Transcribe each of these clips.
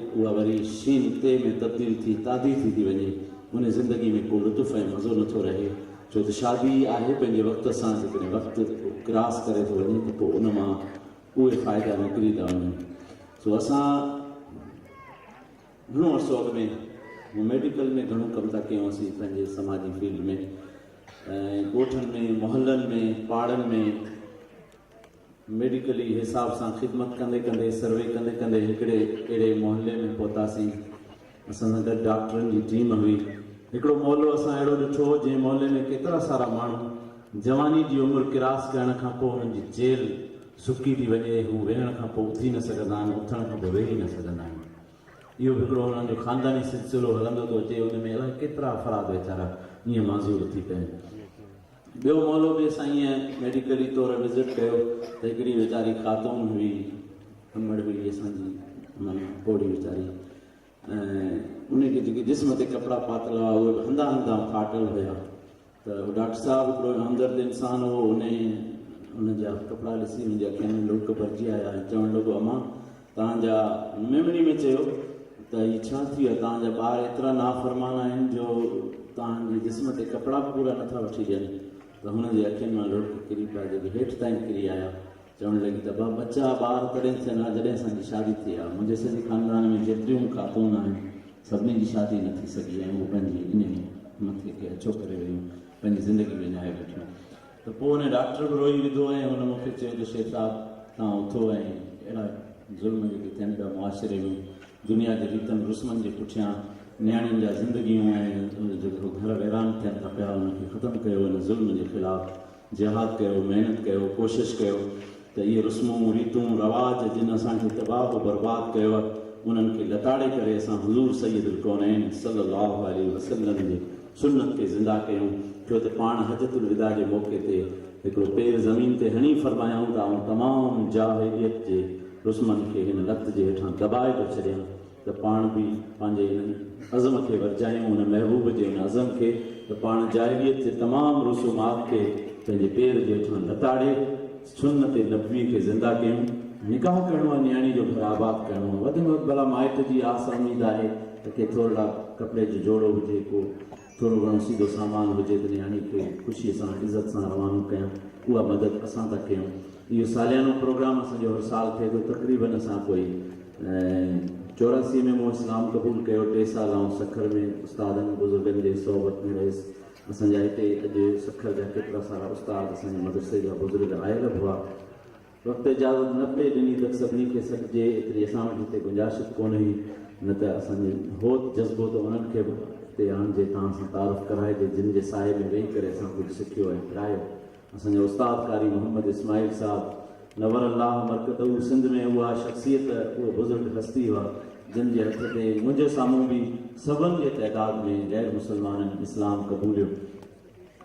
اها وري شين ت ۾ تبديل ٿي تادي ٿي ٿي وڃي. ان زندگي ۾ ڪو لطف ۽ مزو نه ٿو رهي. ڇو ته شادي ئي آهي پنهنجي وقت سان جيڪڏهن وقت ڪراس ڪري ٿو وڃي ته پوء ان مان اهي فائدا نڪري ٿا وڃن. سو اسان گهڻو عرصو اڳ ۾ ميڊيڪل ۾ گهڻو ڪم ٿا ڪيون اسين پنهنجي سماجي فيلڊ ۾ ۽ ڳوٺن ۾ محلن ۾ پاڙن ۾. ميڊيڪلي حساب سان خدمت ڪندي ڪندي سروي ڪندي ڪندي هڪڙي اهڙي محلي ۾ پهتاسين. اسان سان گڏ ڊاڪٽرن جي ٽيم هئي. هڪڙو محلو اسان اهڙو ڏٺو جنهن محلي ۾ ڪيترا سارا ماڻهو جواني جي عمر ڪراس ڪرڻ کان پوء هنن جي چيلهه سڪي ٿي وڃي هو ويهڻ کان پوء اٿي نه سگهندا آهن اٿڻ کان پوء ويهي نه سگهندا آهن اهو به هڪڙو هنن جو خانداني سلسلو هلندو ٿو اچي ان ۾ الائي ڪيترا افراد ويچارا ائين معذور ٿي پين ٻيو مولو به اسانئين ميڊيڪلي طور وزٽ ڪيو ته هڪڙي ويچاري خاتون هئي امڙ هئي اسان جي معنيٰ پوڙهي ويچاري ۽ ان کي جيڪي جسم تي ڪپڙا پاتل هئا اهي به هنڌان هنڌان ڦاٽل هيا ته ڊاڪٽر صاحب هڪڙو همدرد انسان هو ان ان جا ڪپڙا ڏسي منهنجي اکين ۾ لڙڪ ڀرجي آيا ۽ چوڻ لڳو امان تان جا ميمڻي ۾ چيو ته هي ڇا ٿي ويو آهي تان جا ٻار ايترا نافرمان آهن جو تان جي جسم تي ڪپڙا به پورا نٿا وٺي ڏين ته هن جي اکين مان لڙڪ ڪري پيا جيڪي هيٺ تائين ڪري آيا چوڻ لڳي ته ابا ٻچا ٻار تڏهن ٿين ها جڏهن اسان جي شادي ٿئي ها منهنجي سڄي خاندان ۾ جيتريون خاتون آهن سڀني جي شادي نه ٿي سگهي ۽ هو پنهنجي انهي مٿي کي اڇو ڪري ويون پنهنجي زندگي وڃائي ويٺيون ته پوء ان ڊاڪٽر به روئي وڌو ۽ هن مون کي چيو ته شيخ صاحب توهان اٿو ۽ اهڙا ظلم جيڪي ٿين پيا معاشري ۾ دنيا جي ريتن رسمن جي پٺيان نياڻين جا زندگيون ۽ جيڪو گهر ويران ٿين ٿا پيا ان کي ختم ڪيو ان ظلم جي خلاف جهاد ڪيو محنت ڪيو ڪوشش ڪيو ته اهي رسمون، ريتون، رواج جن اسان کي تباهه و برباد ڪيو آهي انهن کي لتاڙي ڪري اسان حضور سيد الڪونين صلي الله عليه وسلم جي سنت کي زنده ڪيون ڇو ته پاڻ حجت الوداع جي موقعي تي هڪڙو پير زمين تي هڻي فرمايائون ته آئون تمام جاهليت جي رسمن کي هن لت جي هيٺان دٻائي ٿو ڇڏيان. ته پاڻ به پنهنجي ان عزم کي ورجايون، ان محبوب جي ان عزم کي ته پاڻ جاهليت جي تمام رسومات کي پنهنجي پير جي هيٺان لتاڙي سنت نبوي کي زنده ڪيون. نڪاح ڪرڻو آهي، نياڻي جو گهر آباد ڪرڻو آهي، وڌ ۾ وڌ ڀلا مائٽ جي آس اميد آهي ته ڪي ٿورڙا ڪپڙي جو جوڙو هجي، ڪو ٿورو گهڻو سيڌو سامان هجي ته نياڻي کي خوشيء سان عزت سان روانو ڪيان، اها مدد اسان ٿا ڪيون. اهو ساليانو پروگرام اسان جو هر سال ٿئي ٿو، تقريبن اسان ڪوئي چوراسي ۾ مون اسلام قبول ڪيو، ٽي سال آئون سکر ۾ استادن بزرگن جي صحبت ۾ رهيس، اسان جا هتي اڄ سکر جا ڪيترا سارا استاد اسان جي مدرسي جا بزرگ آيل به هئا، وقت اجازت نه پئي ڏني ته سڀني کي سڏجي ايتري اسان وٽ هتي گنجائش به ڪونه هئي نه ته اسان جي هوت جذبو ته انهن کي به هتي آڻجي تان سان تعارف ڪرائجي جن جي سايي ۾ ويهي ڪري اسان ڪجهه سکيو ۽ پرايو اسان جا استاد قاري محمد اسماعيل صاحب نور الله مرقده سنڌ ۾ اها شخصيت اهي بزرگ هستي هئا جن جي هٿ تي منهنجي سامهون به سون جي تعداد ۾ غير مسلمانن اسلام قبوليو.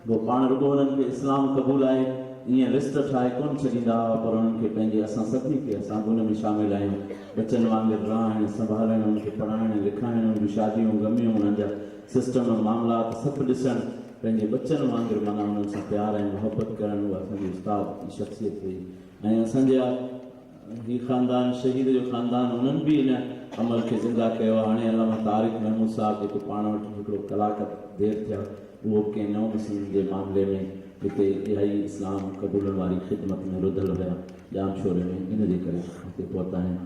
جو پاڻ رڳو انهن کي اسلام قبول آهي ائين لسٽ ٺاهي ڪونه ڇڏيندا هئا پر انهن کي پنهنجي اسان سڀني کي اسان به ان ۾ شامل آهيون ٻچن وانگر رهائڻ سنڀالڻ انهن کي پڙهائڻ لکائڻ انهن جون شاديون غميون انهن جا سسٽم معاملات سڀ ڏسڻ پنهنجي ٻچن وانگر معنيٰ انهن سان پيار ۽ محبت ڪرڻ اها اسان جي استاد جي شخصيت هئي ۽ اسان جا جي خاندان شهيد جو خاندان انهن به ان عمل کي زنده ڪيو هاڻي علامه طارق محمود صاحب جيڪو پاڻ وٽ هڪڙو ڪلاڪ دير ٿيا اهو به ڪنهن نو مسلم جي معاملي ۾ هتي اهائي اسلام قبولڻ واري خدمت ۾ رڌل هيا ڄام شوري ۾ ان جي ڪري هتي پهتا آهن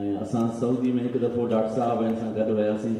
۽ اسان سعودي ۾ هڪ دفعو ڊاڪٽر صاحب ۽ اسان گڏ وياسين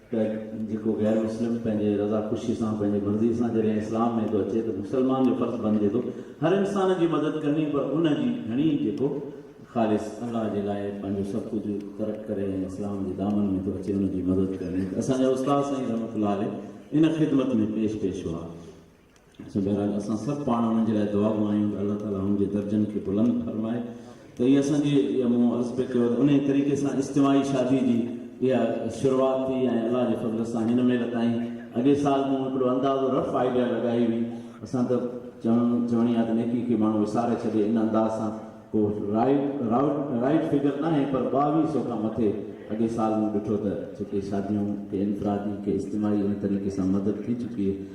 ته جيڪو غير مسلم پنهنجي رضا خوشي سان پنهنجي مرضي سان جڏهن اسلام ۾ ٿو اچي ته مسلمان جو فرض بنجي ٿو هر انسان جي مدد ڪرڻي پر ان جي گهڻي جيڪو خالص الله جي لاء پنهنجو سڀ ڪجهه ترڪ ڪري ۽ اسلام جي دامن ۾ ٿو اچي ان جي مدد ڪرڻي ته اسان جا استاد سائين رحمت الله عليه ان خدمت ۾ پيش پيش هئا. سو بهرحال اسان سڀ پاڻ انهن جي لاء دعا گو آهيون ته الله تعالي انهن جي درجن کي بلند فرمائي ته هي اسان جي جيئن مون عرض پي ڪيو ته انهي طريقي سان اجتماعي شادي جي اها شروعات ٿي ۽ الله جي فضل سان هن مهل تائين اڳي سال مون هڪڙو اندازو رف آئيڊيا لڳائي هئي اسان ته چوڻ چوڻي آهي ته نيڪي کي ماڻهو وساري ڇڏي ان انداز سان ڪو رائيڊ رائوڊ رائيڊ فگر ناهي پر ٻاويهه سو کان مٿي اڳي سال مون ڏٺو ته جيڪي شاديون ڪي انفرادي ڪي اجتماعي ان طريقي سان مدد ٿي چڪي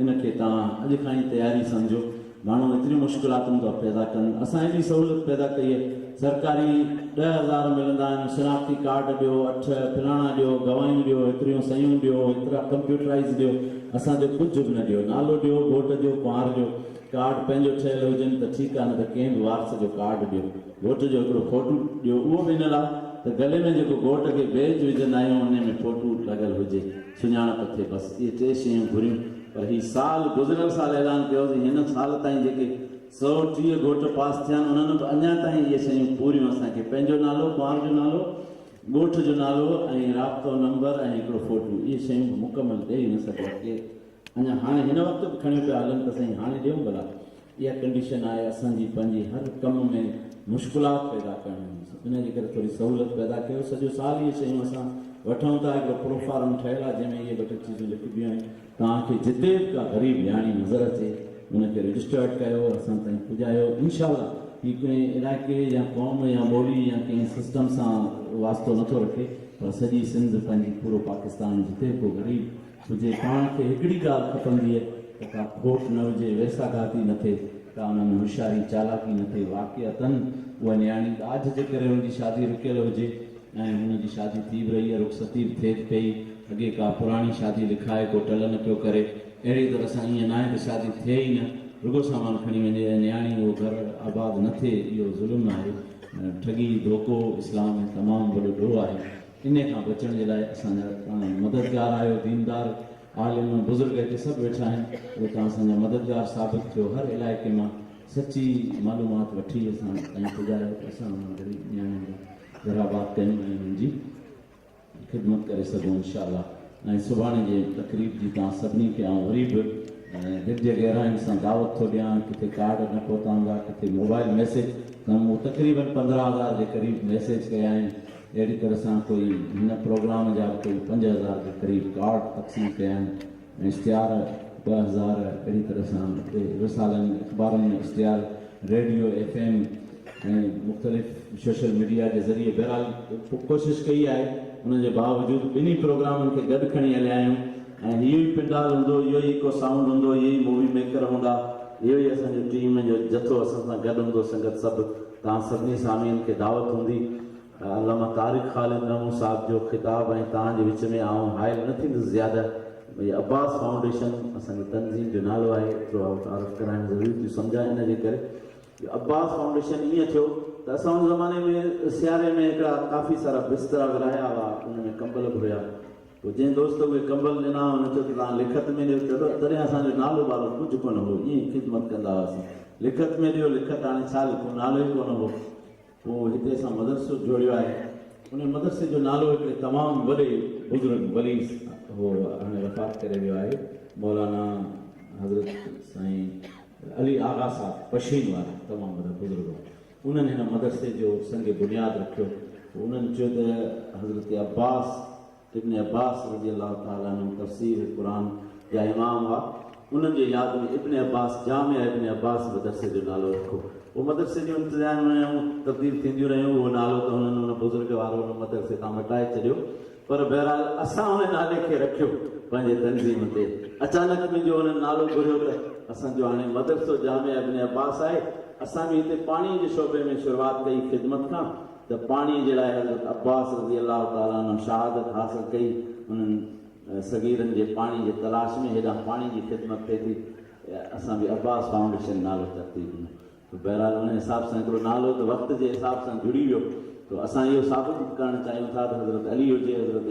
ان کي توهان اڄ کان ئي تياري سمجهو ماڻهو ايتريون مشڪلاتون ٿا پيدا ڪن اسان ايڏي سهولت پيدا ڪئي آهي سرڪاري ڏهه هزار ملندا آهن شناختي ڪارڊ ڏيو اٺ فلاڻا ڏيو گواهيون ڏيو ايتريون سيون ڏيو ايترا ڪمپيوٽرائز ڏيو اسان جو ڪجهه به نه ڏيو نالو ڏيو ووٽ جو ڪنوار جو ڪارڊ پنهنجو ٺهيل هجن ته ٺيڪ آهي نه ته ڪنهن به وارث جو ڪارڊ ڏيو ووٽ جو هڪڙو فوٽو ڏيو اهو به ان لاء ته گلي ۾ جيڪو گوٽ کي بيج وجهندا آهيون انهي ۾ فوٽو لڳل هجي. سڃاڻپ ٿئي بس اهي ٽي شيون گهريون پر هي سال گذريل سال اعلان ڪيو هوسين هن سال تائين جيڪي سؤ ٽيهه گهوٽ پاس ٿيا آهن انهن به اڃا تائين اهي شيون پوريون اسان کي پنهنجو نالو ڪنوار جو نالو ڳوٺ جو نالو ۽ رابطو نمبر ۽ هڪڙو فوٽو اهي شيون به مڪمل ڏئي نه سگهيا ڪير اڃا هاڻي هن وقت به کڻيو پيا هلن ته سائين هاڻي ڏيون ڀلا اها ڪنڊيشن آهي اسان جي پنهنجي هر ڪم ۾ مشڪلات پيدا ڪرڻ جي سو انهي جي ڪري ٿوري سهولت پيدا ڪيو سڄو سال اهي شيون اسان وٺون ٿا هڪڙو پروفارم ٺهيل آهي جنهن ۾ اهي ٻه ٽي چيزون لکبيون آهن توهان کي جتي به ڪا غريب نياڻي نظر اچي ان کي رجسٽرڊ ڪيو اسان تائين پڄايو انشاء الله هي ڪنهن علائقي يا قوم يا ٻولي يا ڪنهن سسٽم سان واسطو نٿو رکي پر سڄي سنڌ پنهنجي پورو پاڪستان جتي به ڪو غريب هجي، پاڻ کي هڪڙي ڳالهه کپنديء ته ڪا کوٽ نه هجي، ويساهگهاتي نه ٿئي، ڪا ان ۾ هوشياري چالاڪي نه ٿئي، واقعتاً اها نياڻي ڏاج جي ڪري هن جي شادي رڪيل هجي ۽ هن جي شادي ٿي به رهي، رخصتي به ٿئي پئي، اڳي ڪا پراڻي شادي لکائي ڪو ٽل نه پيو ڪري، اهڙيء طرح سان ائين ناهي ته شادي ٿئي ئي نه، رڳو سامان کڻي وڃي ۽ نياڻي اهو گهر آباد نه ٿئي، اهو ظلم آهي، ٺڳي، ڌوڪو، اسلام ۾ تمام وڏو ڏوهه آهي. انهي کان بچڻ جي لاء اسان جا توهان مددگار آهيو ديندار عالم بزرگ هتي سڀ ويٺا آهن اهي توهان اسان جا مددگار ثابت ٿيو هر علائقي مان سچي معلومات وٺي اسان تائين پڄايو ته اسان انهن غريب نياڻين جا گهر آباد ڪيون ۽ انهن جي خدمت ڪري سگهون انشاءالله ۽ سڀاڻي جي تقريب جي توهان سڀني کي آئون وري به دل جي گهراين سان دعوت ٿو ڏيان ڪٿي ڪارڊ نه پهتا هوندا ڪٿي موبائل ميسيج ته مون تقريبن پندرهن هزار جي قريب ميسيج ڪيا آهن اهڙي طرح سان ڪوئي هن پروگرام جا به ڪوئي پنج هزار جي قريب ڪارڊ تقسيم ڪيا آهن ۽ اشتهار ٻه هزار اهڙي طرح سان رسالن اخبارن ۾ اشتهار ريڊيو ايف ايم ۽ مختلف شوشل ميڊيا جي ذريعي بهرحال ڪوشش ڪئي آهي ان جي باوجود ٻنهي پروگرامن کي گڏ کڻي هليا آهيون ۽ اهو ئي پنڊال هوندو اهو ئي ايڪو سائونڊ هوندو اهي ئي مووي ميڪر هوندا اهو ئي اسان جي ٽيم جو جٿو اسان سان گڏ هوندو سنگت سڀ توهان سڀني سامعين کي دعوت هوندي ته علامه طارق خالد نحو صاحب جو خطاب ۽ توهان جي وچ ۾ آئون حائل نه ٿيندس زياده هي عباس فائونڊيشن اسان جي تنظيم جو نالو آهي ايترو آئون تعارف ڪرائڻ ضروري ٿيو سمجهان ان جي ڪري جو عباس فائونڊيشن ايئن ٿيو ته اسان ان زماني ۾ سياري ۾ هڪڙا ڪافي سارا بسترا ورهايا هئا ان ۾ ڪمبل به هيا پوء جنهن دوست اهي ڪمبل ڏنا، هن چيو ته توهان لکت ۾ ڏيو. چيو ته تڏهن اسان جو نالو والو ڪجهه ڪونه هو، ائين ئي خدمت ڪندا هئاسين. لکت ۾ ڏيو، لکت هاڻي ڇا لکون، نالو ئي ڪونه هو. پوء هتي اسان مدرسو جوڙيو آهي. انهي مدرسي جو نالو هڪڙي تمام وڏي بزرگ ولي هو، هاڻي وفات ڪري ويو آهي، مولانا حضرت سائين علي آغا صاحب پشين وارا تمام وڏا بزرگ هئا. انهن هن مدرسي جو سنگ بنياد رکيو پوء انهن چيو ته حضرت عباس ابن عباس رضي الله تعالٰي عنه تفسير قرآن جا امام هئا انهن جي ياد ۾ ابن عباس جامع ابن عباس مدرسي جو نالو رکو پوء مدرسي جون ابتدائين مهيون تبديل ٿينديون رهيون اهو نالو ته هنن ان بزرگ وارو ان مدرسي تان مٽائي ڇڏيو پر بهرحال اسان هن نالي کي رکيو پنهنجي تنظيم تي اچانڪ منهنجو هنن نالو گهريو ته اسان جو هاڻي مدرسو جامع ابن عباس آهي اسان به هتي پاڻي جي شعبي ۾ شروعات ڪئي خدمت کان ته پاڻي جي لاء حضرت عباس رضي الله تعالٰي عنه شهادت حاصل ڪئي انهن صغيرن جي پاڻي جي تلاش ۾ هيڏانهن پاڻي جي خدمت ٿئي ٿي اسان به عباس فائونڊيشن نالي ترتيب ۾ ته بهرحال ان حساب سان هڪڙو نالو ته وقت جي حساب سان جڙي ويو ته اسان اهو ثابت به ڪرڻ چاهيون ٿا ته حضرت علي هجي حضرت